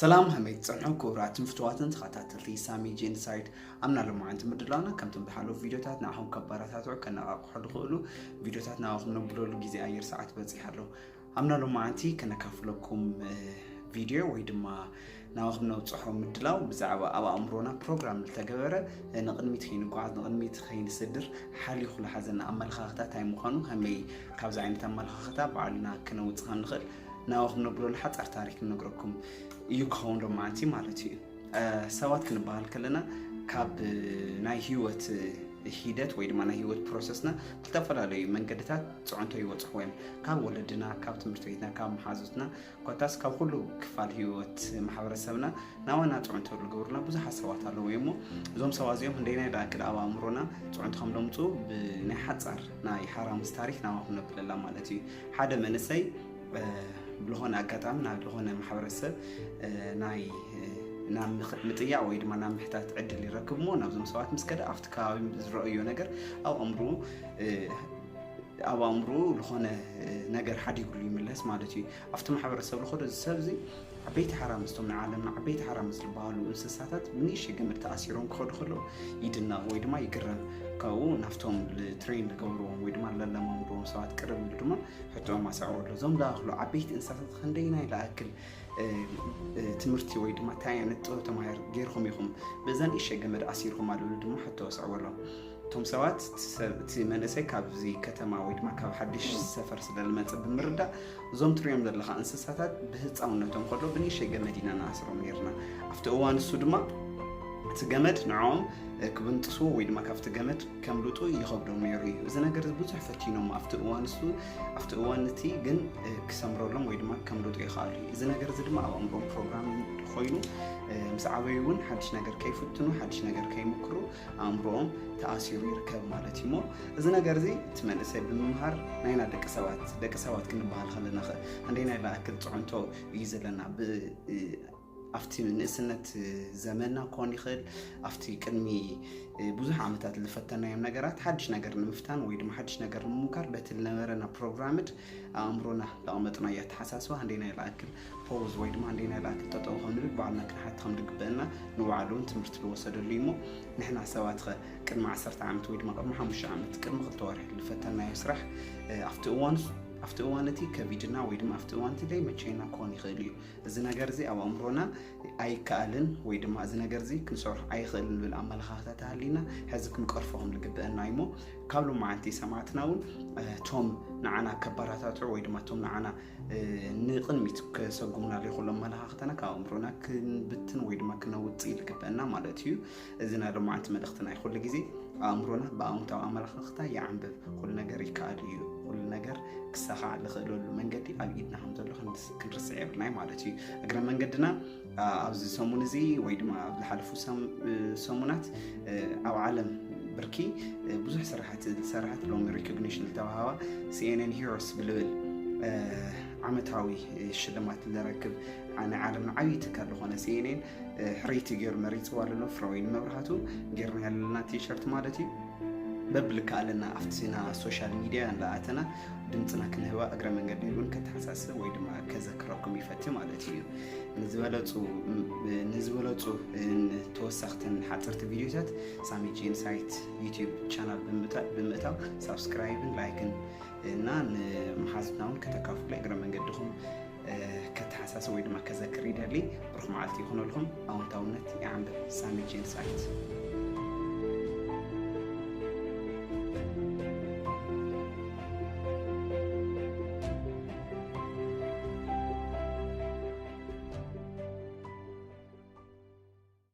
ሰላም ሃመይ ትጸንሑ ክቡራትን ፍትዋትን ተኸታተልቲ ሳሚ ጄንሳይድ ኣምና ሎማዓንቲ ምድላውና ከምቶም ዝሓለፉ ቪድዮታት ንኣኹም ከባራታትዑ ከነቓቕሑ ዝኽእሉ ቪድዮታት ንኣኹም ነብለሉ ግዜ ኣየር ሰዓት በፂሕ ኣሎ ኣምና ሎማዓንቲ ከነካፍለኩም ቪድዮ ወይ ድማ ናብኹም ነብፅሖ ምድላው ብዛዕባ ኣብ ኣእምሮና ፕሮግራም ዝተገበረ ንቕድሚት ከይንጓዓዝ ንቕድሚት ከይንስድር ሓልዩ ዝሓዘና ኣመለኻኽታ እንታይ ምዃኑ ከመይ ካብዚ ዓይነት ኣመለኻኽታ ባዕልና ክነውፅ ከም ንኽእል ናብኡ ክንነግረሉ ሓፃር ታሪክ ንነግረኩም እዩ ክኸውን ሎማዓንቲ ማለት እዩ ሰባት ክንበሃል ከለና ካብ ናይ ህይወት ሂደት ወይ ድማ ናይ ህይወት ፕሮሰስና ዝተፈላለዩ መንገድታት ፅዕንቶ ይወፅኹ እዮም ካብ ወለድና ካብ ትምህርቲ ቤትና ካብ መሓዙትና ኮታስ ካብ ኩሉ ክፋል ህይወት ማሕበረሰብና ናባና ፅዕንቶ ዝገብሩና ብዙሓት ሰባት ኣለዉ እሞ እዞም ሰባት እዚኦም እንደናይ ደኣ ቅድ ኣብ ኣእምሮና ፅዕንቶ ከም ደምፁ ብናይ ሓፃር ናይ ሓራምስ ታሪክ ናባኹም ነብለላ ማለት እዩ ሓደ መንእሰይ ብዝኾነ ኣጋጣሚ ናብ ዝኾነ ማሕበረሰብ ናይ ናብ ምጥያቅ ወይ ድማ ናብ ምሕታት ዕድል ይረክብ እሞ ናብዞም ሰባት ምስ ከደ ኣብቲ ከባቢ ዝረአዮ ነገር ኣብ ኣእምሮ ኣብ ኣእምሮ ዝኾነ ነገር ሓዲግሉ ይምለስ ማለት እዩ ኣብቲ ማሕበረሰብ ዝኸዶ እዚ ሰብ እዚ ዓበይቲ ሓራምዝ እቶም ናይ ዓለምና ዓበይቲ ሓራምዝ ዝበሃሉ እንስሳታት ብንእሽተይ ገመድ ተኣሲሮም ክኸዱ ከለዉ ይድነቕ ወይ ድማ ይግረም ካብኡ ናብቶም ትሬን ዝገብርዎም ወይ ድማ ለለማምድዎም ሰባት ቅርብ ኢሉ ድማ ሕቶኦም ኣሰዕረሉ እዞም ዝኣኽሉ ዓበይቲ እንስሳታት ክንደይናይ ዝኣክል ትምህርቲ ወይ ድማ እንታይ ዓይነት ጥበብ ተማሂር ገይርኩም ኢኹም በዛ ንእሽተይ ገመድ ኣሲርኩም ኣለሉ ድማ ሕቶ ኣስዕበሎም እቶም ሰባት እቲ መንእሰይ ካብዚ ከተማ ወይ ድማ ካብ ሓድሽ ሰፈር ስለዝመፅእ ብምርዳእ እዞም ትሪኦም ዘለካ እንስሳታት ብህፃውነቶም ከሎ ብንእሸይ ገመድ ኢና ንኣስሮም ነርና ኣብቲ እዋን እሱ ድማ እቲ ገመድ ንዕኦም ክብንጥሱ ወይ ድማ ካብቲ ገመድ ከምልጡ ይኸብዶም ነይሩ እዩ እዚ ነገር ብዙሕ ፈቲኖም ኣብቲ እዋን እሱ ኣብቲ እዋን እቲ ግን ክሰምረሎም ወይ ድማ ከምልጡ ይኽኣሉ እዩ እዚ ነገር እዚ ድማ ኣብ ኣእምሮም ፕሮግራም ኮይኑ ምስ ዓበዩ እውን ሓድሽ ነገር ከይፍትኑ ሓድሽ ነገር ከይምክሩ ኣእምሮኦም ተኣሲሩ ይርከብ ማለት እዩ እሞ እዚ ነገር እዚ እቲ መንእሰይ ብምምሃር ናይና ደቂ ሰባት ደቂ ሰባት ክንበሃል ከለና ኸ ክንደይናይ ዝኣክል ፅዕንቶ እዩ ዘለና ኣብቲ ንእስነት ዘመና ክኾን ይኽእል ኣብቲ ቅድሚ ብዙሕ ዓመታት ዝፈተናዮም ነገራት ሓድሽ ነገር ንምፍታን ወይ ድማ ሓድሽ ነገር ንምምካር በቲ ዝነበረና ፕሮግራምድ ኣእምሮና ዘቐመጥናዮ ኣተሓሳስባ ክንደየናይ ልኣክል ፖውዝ ወይ ድማ ክንደየናይ ልኣክል ጠጠው ከም ንብል ባዕልና ክንሓቲ ከም ዝግበአና ንባዕሉ እውን ትምህርቲ ዝወሰደሉ እዩ እሞ ንሕና ሰባት ኸ ቅድሚ ዓሰርተ ዓመት ወይ ድማ ቅድሚ ሓሙሽተ ዓመት ቅድሚ ክልተ ወርሒ ዝፈተናዮ ስራሕ እ፣ ኣብቲ እዋን ኣብቲ እዋን እቲ ከቢድና ወይ ድማ ኣብቲ እዋን እቲ ዘይመቸየና ክኾን ይኽእል እዩ እዚ ነገር እዚ ኣብ ኣእምሮና ኣይከኣልን ወይ ድማ እዚ ነገር እዚ ክንሰርሖ ኣይኽእልን ዝብል ኣመለኻኽታ ተሃሊና ሕዚ ክንቀርፎ ከም ዝግብአና እዩ እሞ ካብ ሎማዓንቲ ሰማዕትና እውን እቶም ንዓና ከባራታትዑ ወይ ድማ እቶም ንዓና ንቕድሚት ከሰጉምና ዘይክእሉ ኣመለኻኽታና ካብ ኣእምሮና ክንብትን ወይ ድማ ክነውፅእ ይግብአና ማለት እዩ እዚ ናይ ሎማዓንቲ መልእኽቲ ናይ ኩሉ ግዜ ኣእምሮና ብኣውንታዊ ኣመላኽኽታ ይዓንብብ ኩሉ ነገር ይከኣል እዩ ኩሉ ነገር ክሳኻዕ ዝኽእለሉ መንገዲ ኣብ ኢድና ከም ዘሎ ክንርስዕ የብልናይ ማለት እዩ እግረ መንገድና ኣብዚ ሰሙን እዚ ወይ ድማ ኣብ ዝሓለፉ ሰሙናት ኣብ ዓለም ብርኪ ብዙሕ ስራሕቲ ዝሰራሕት ሎሚ ሪኮግኒሽን ዝተዋሃባ ሲኤንን ሂሮስ ብልብል ዓመታዊ ሽልማት ዝረክብ ናይ ዓለምና ዓብዪ ትካል ዝኾነ ሲኤንን ሕርይቲ ገይሩ መሪፅዋ ኣሎ ፍረወይኒ መብርሃቱ ጌርና ያለና ቲሸርት ማለት እዩ በብልካ ኣለና ኣብቲ ዜና ሶሻል ሚዲያ እንዳኣተና ድምፅና ክንህባ እግረ መንገዲ እውን ከተሓሳስብ ወይ ድማ ከዘክረኩም ይፈቲ ማለት እዩ ንዝበለፁ ተወሳኽትን ሓፀርቲ ቪዲዮታት ሳሚ ጄንሳይት ዩቲብ ቻናል ብምእታው ሳብስክራይብን ላይክን እና ንመሓዝትና እውን ከተካፍሉ እግረ መንገድኹም ከተሓሳስብ ወይ ድማ ከዘክር ይደሊ ብሩክ መዓልቲ ይኹነልኩም ኣወንታውነት ይዓንብብ ሳሚ ጄምስ ኣርት